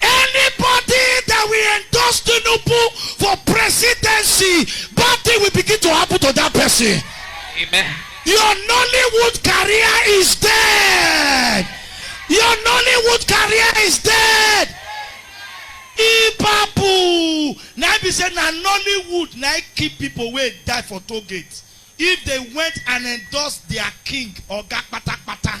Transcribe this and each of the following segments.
Anybody that will endorse Tinubu for presidency, bad thing will begin to happen to that person. Amen. Your Nollywood career is dead. Your Nollywood career is dead. Ipapu. Now be say na Nollywood na it keep people wey die for toll gate. If they went and endorsed their king, oga patapata.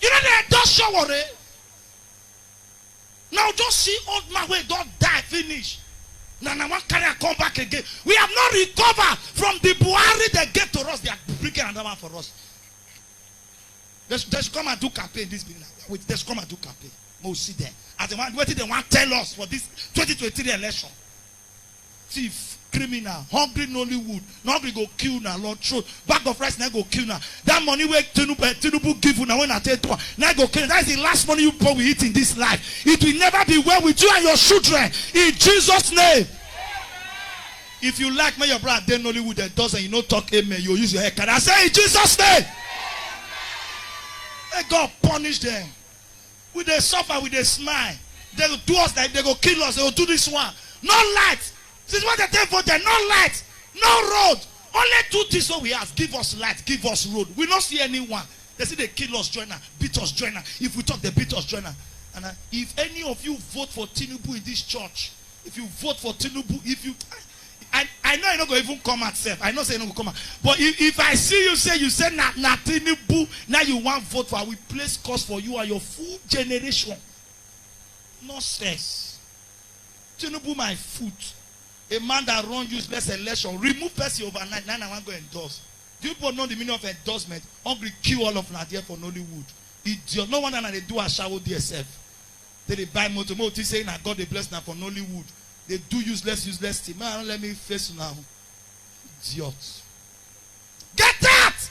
You no dey endorse Sowore? Now u just see old man wey don die finish na na wan carry am come back again? We have not recover from the Buhari dem gave to us, they are bringing another one for us. They should, they should come and do campaign this beginning of wait, they should come and do campaign. Make we see them as they want, wetin they wan tell us for this 2023 election. Thief, criminal, hungry nollywood, na hungry go kill una lord throat, bag of rice na im go kill una, that money wey tinubu give una wey una take do am na im go kill una, that is the last money you people will eat in this life, it will never be well with you and your children in Jesus name. If you like make your brother dey nollywood endorse and you no talk amen you go use your head carry am say in Jesus name. May God punish them. We dey suffer, we dey smile. Dem go do us like dem go kill us, dem go do dis one. No light! Since wen dem take vote dem, no light, no road. Only two tins wey we ask, give us light, give us road. We no see any one. Dem still dey kill us join am, beat us join am. If we tok, dem beat us join am. And I, if any of you vote for Tinubu in dis church, if you vote for Tinubu, if you, I I know you no go even come out sef. I know say you no go come out. But if if I see you say you say na na Tinubu na you wan vote for, I will place curse for you and your full generation. Nonsense. Tinubu my foot. A man that run useless election, remove person overnight, na na wan go endorse. Do you people know the meaning of endorsement? Hungry kill all of una there for Nollywood. Idiot. No wonder na dey do ashawo there sef. take dey buy motor make u think say na God dey bless una for nollywood dey do useless useless thing make I no let me face una o idiot get out.